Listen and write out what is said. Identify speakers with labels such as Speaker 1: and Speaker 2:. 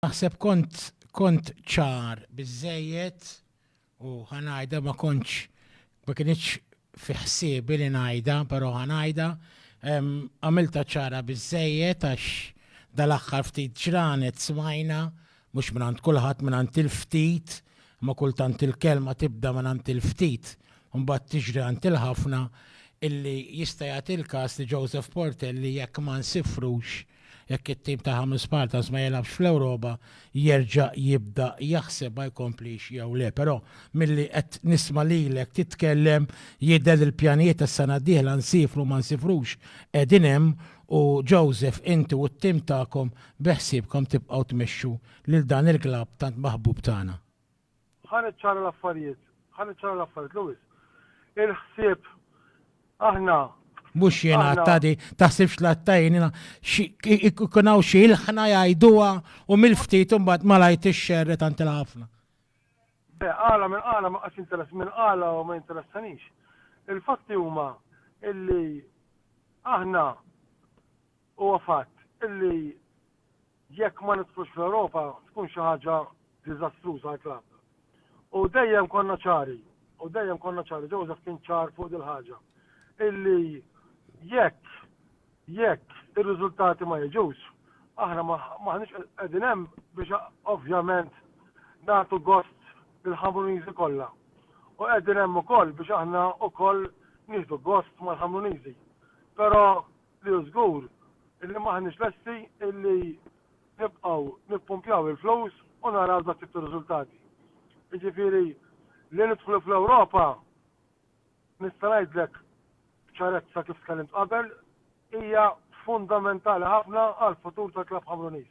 Speaker 1: Naħseb kont kont ċar biżejjed u ħanajda ma kontx ma kienx fi ħsiebi li ngħidha, però ħanajda għamilta ċara biżejjed għax dal-aħħar ftit ġranet smajna Mhux mingħand kulħadd, mingħand il-ftit, imma kultant il-kelma tibda mingħand il-ftit u mbagħad tiġri għand il-ħafna, illi jista' jagħti l-każ li Joseph Portelli jekk ma nsifrux, jekk it-tim ta' Hamis Paltas ma jilgħabx fl-Ewropa, jerġa' jibda jaħseb ma jkomplix jew le. Però milli qed nisma' lilek titkellem jidher li l-pjanijiet għas-sena d-dieħla nsifru ma nsifrux qegħdin hemm u Joseph inti u t-tim tagħkom Beħsiebkom tibqgħu tmexxu lil dan il-klabb tant maħbub tagħna? Ħa niċċara
Speaker 2: l-affarijiet, ħa niċċara l-affarijiet, Louis. Il-ħsieb, aħna, Mhux jien
Speaker 1: aħna. għatta di, taħsibx l-għatta jien, ikun hawn xi ilħna jgħiduha u mill-ftit imbagħad malajr tixxerre tant il-ħafna. Le,
Speaker 2: għala minn għala ma qax interess minn għala u ma jinteressanix. Il-fatti huma illi aħna Huwa fatt li jekk ma nidħlux fl-Ewropa tkun xi ħaġa diżastruża għall-klabb. U dejjem konna ċari, u dejjem konna ċari, Joseph kien ċar fuq dil-ħaġa, illi jekk, jekk ir-riżultati ma jiġux, aħna m'aħniex qegħdin hemm biex ovvjament nagħtu gost lill-Ħamruniżi kollha. U qegħdin hemm ukoll biex aħna wkoll nieħdu gost mal-Ħamruniżi. Però li hu żgur illi m'aħniex lesti illi nibqgħu nippumpjaw il-flus u naraw dat-tip ta' riżultati. Jiġifieri li nidħlu fl-Ewropa, nista' ngħidlek b'ċarezza kif tkellimt qabel, hija fundamentali ħafna għall-futur tal-klabb Ħamruniż.